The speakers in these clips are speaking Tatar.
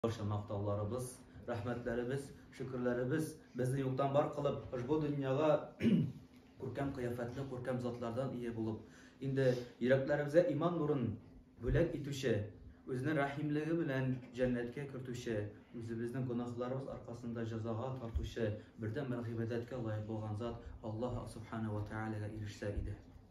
Барча мактауларыбыз, рәхмәтләребез, шөкерләребез безне юктан бар кылып, ошбу дөньяга күркәм кыяфәтле, күркәм затлардан ия булып, инде йөрәкләребезгә иман нурын бүләк итүче, үзенең рәхимлеге белән җәннәткә кертүче, үзебезнең гөнаһларыбыз аркасында җәзага тартучы бердәнбер гыйбадәткә лаек булган зат Аллаһ Субхана ва Тәгаләгә ирешсә иде.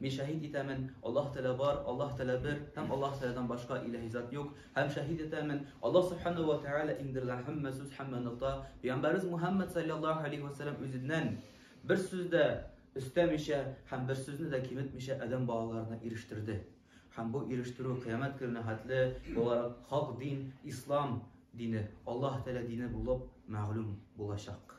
Мин шәһит итәмен, Аллаһ Тәгалә бар, Аллаһ Тәгалә бер һәм Аллаһ Тәгаләдән башка илаһи зат юк, һәм шәһит итәмен, Аллаһ Субханаһу ва Тәгалә иңдергән һәммә сүз, һәммә нокта, пәйгамбәребез Мухәммәд салләллаһу галәйһи вә сәлләм үзеннән бер сүз дә өстәмичә һәм бер сүзне дә киметмичә адәм балаларына ирештерде. Һәм бу ирештерү кыямәт көненә хәтле буларак хак дин, ислам дине, Аллаһ Тәгалә дине булып мәгълүм булачак.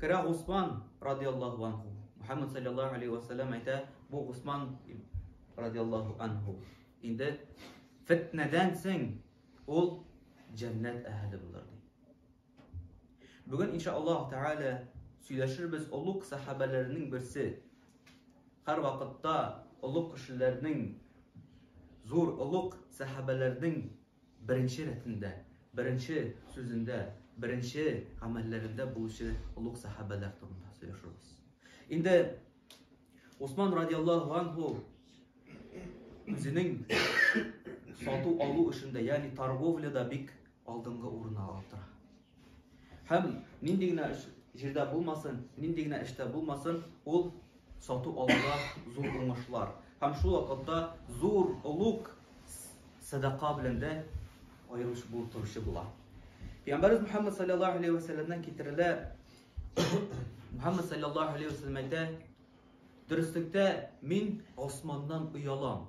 Керә Госман, радиаллаһу анһу. Мөхәммәд саллаллаһу алейһи ва сәлләм әйтә, бу Госман, радиаллаһу анһу. Инде фетнәдән соң ул җәннәт әһеле булыр ди. Бүген иншаллаһ тәгалә сөйләшербез олуг сахабәләрнең берсе. Һәр вакытта олуг кешеләрнең зур олуг сахабәләрнең Беренче рәтендә, беренче сүзендә, беренче гамәлләрендә булучы олуг сәхабәләр турында сөйләшербез. Инде Усман радиаллаһу анху үзенең сату алу эшендә, ягъни торговляда бик алдынгы урынны алып тора. Һәм нинди генә җирдә булмасын, нинди генә эштә булмасын, ул сату алуда зур уңышлар. Һәм шул вакытта зур олуг садака белән дә аерылыш булып торучы була. Пәйгамбәрбез Мөхәммәд саллаллаһу алейхи ва сәлламнан китерелә. Мөхәммәд саллаллаһу алейхи ва сәллам әйтә, Дөреслектә мин Османнан оялам.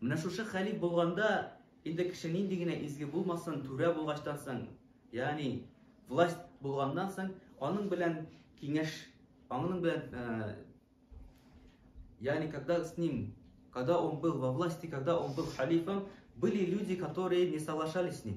Менә шушы хәлиф булганда, инде кеше нинди генә изге булмасын, түрә булгачтан соң, ягъни власть булганнан соң, аның белән киңәш, аның белән, э, ягъни когда с ним, когда он был во власти, когда он был халифом, были люди, которые не соглашались с ним.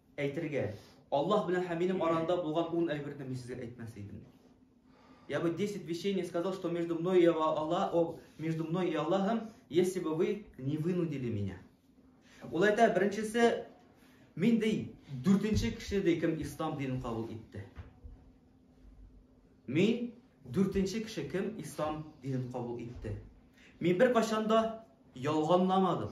әйтергә. Аллаһ белән һәм минем арамда булган ун әйберне мин сезгә әйтмәс идем. Я бы 10 вещей не сказал, что между мной и Аллахом, между мной и Аллахом, если бы вы не вынудили меня. Ул әйтә, беренчесе, мин ди, дүртенче кеше ди, кем ислам динен кабул итте. Мин дүртенче кеше кем ислам динен кабул итте. Мин бер кашанда ялганламадым.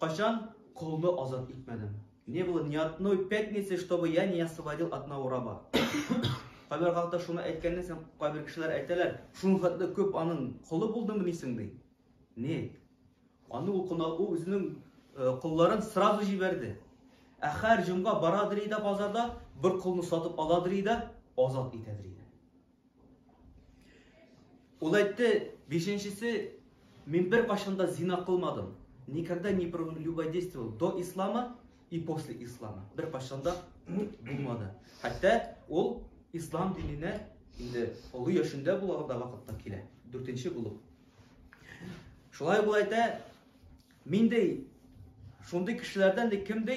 Качан колны азат итмәдем? Не было ни одной пятницы, чтобы я не освободил одного раба. Кайбер хакта шуны әйткәннән соң кайбер кешеләр әйтәләр, шуның хәтле күп аның колы булдымы дисең ди. Не? Аны ул кунак ул үзенең колларын э, сразу җибәрде. Ә һәр җомга барадыр иде базарда, бер колны сатып аладыр иде, азат итәдер иде. Ул әйтте, бишенчесе, мин бер кашын да зина кылмадым. Никогда не прелюбодействовал до ислама и после ислама. Бер кашын да булмады. Хәтта ул ислам диненә инде олы яшендә булган да вакытта килә. Дүртенче булып. Шулай ул әйтә, мин дә шундый кешеләрдән дә кем дә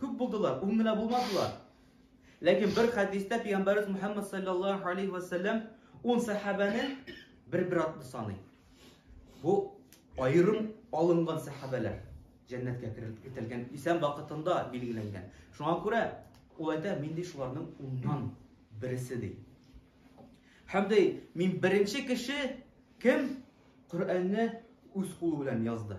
Күп булдылар, ун генә булмадылар. Ләкин бер хәдистә пәйгамбәрбез Мөхәммәд саллаллаһу алейхи ва саллям ун сәхабәне бер-бер атлы саный. Бу аерым алынган сәхабәләр җәннәткә кертелгән исән вакытында билгеләнгән. Шуңа күрә ул әйтә, мин ди шуларның уннан бересе ди. Һәм ди, мин беренче кеше кем Коръәнне үз кулы белән язды.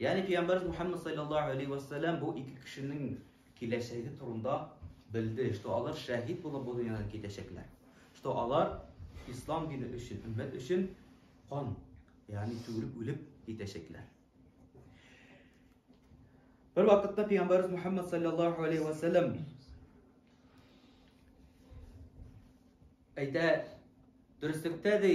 Ягъни пәйгамбәрбез Мухаммад салләллаһу алейһи ва сәлләм бу ике кешенең киләчәге турында белде, что алар шәһид булып бу дөньядан китәчәкләр. Что алар ислам дине өчен, өммәт өчен кан, ягъни түгелеп үлеп китәчәкләр. Бер вакытта пәйгамбәрбез Мухаммад салләллаһу алейһи ва сәлләм әйтә, дөреслектә ди,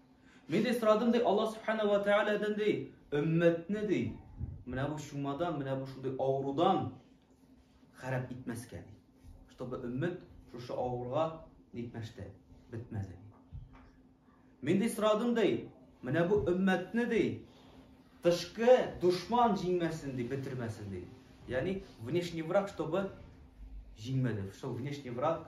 Мин дә сорадым, ди, Аллаһ Субхана ва Тәгаләдән, ди, өммәтне, ди, менә бу чумадан, менә бу шундый авырудан харап итмәскә, ди. Чтобы өммәт шушы авыруга нитмәште, бетмәс, ди. Мин дә сорадым, ди, менә бу өммәтне, ди, тышкы душман җиңмәсен, ди, бетермәсен, ди. Ягъни, внешний враг, чтобы җиңмәде. Чтобы внешний враг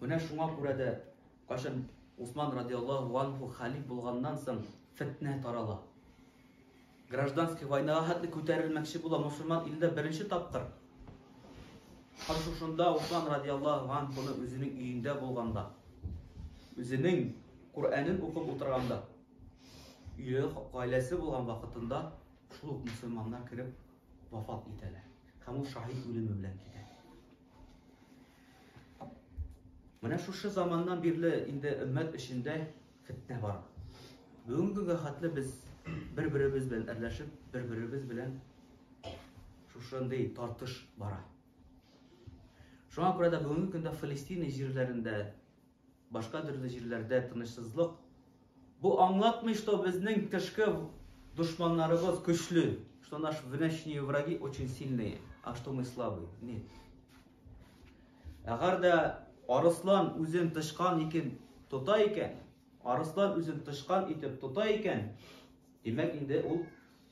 Менә шуңа күрә дә кайчан Усман радиаллаһу анху халиф булганнан соң фетнә тарала. Гражданский войнага хәтле күтәрелмәкче була мусульман илендә беренче тапкыр. Хәзер шунда Усман радиаллаһу анхуны үзенең өендә булганда, үзенең Куранын укып утырганда, өйле гаиләсе булган вакытында шул ук мусульманнар кереп вафат итәләр. Һәм ул шаһит үлеме белән китә. Менә шушы заманнан бирле инде өммәт эчендә фетнә бар. Бүгенге көнгә хәтле без бер-беребез белән әрләшеп, бер-беребез белән шушындый тартыш бара. Шуңа күрә дә бүгенге көндә Фалестина җирләрендә Башка төрле җирләрдә тынычсызлык. Бу аңлатмый, что безнең тышкы дошманнарыбыз көчле, что наши внешние враги очень сильные, а что мы слабые. Нет. Әгәр дә арыслан үзен тышкан икән, тота икән, арыслан үзен тышкан итеп тота икән, димәк инде ул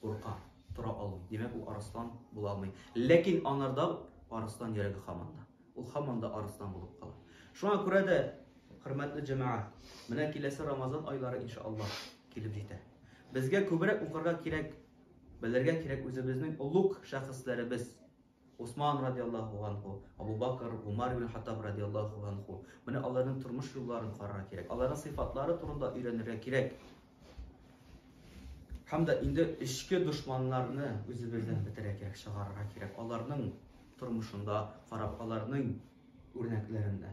Курка, тора алмый. Димәк, ул арыслан була алмый. Ләкин аңарда арыслан йөрәге хаман да. Ул хаман да арыслан булып кала. Шуңа күрә дә, хөрмәтле җәмәгать, менә киләсе Рамазан айлары иншаллаһ килеп җитә. Безгә күбрәк укырга кирәк, белергә кирәк үзебезнең олуг шәхесләребез, Госман радиаллаһу ганһу, Абу Бакр, Гомар ибн Хаттаб радиаллаһу ганһу. Менә аларның тормыш юлларын карарга кирәк. Аларның сыйфатлары турында өйрәнергә кирәк. Һәм дә инде эчке дошманнарны үзебездән бетерә кирәк, чыгарырга кирәк. Аларның тормышында карап, аларның үрнәкләрендә.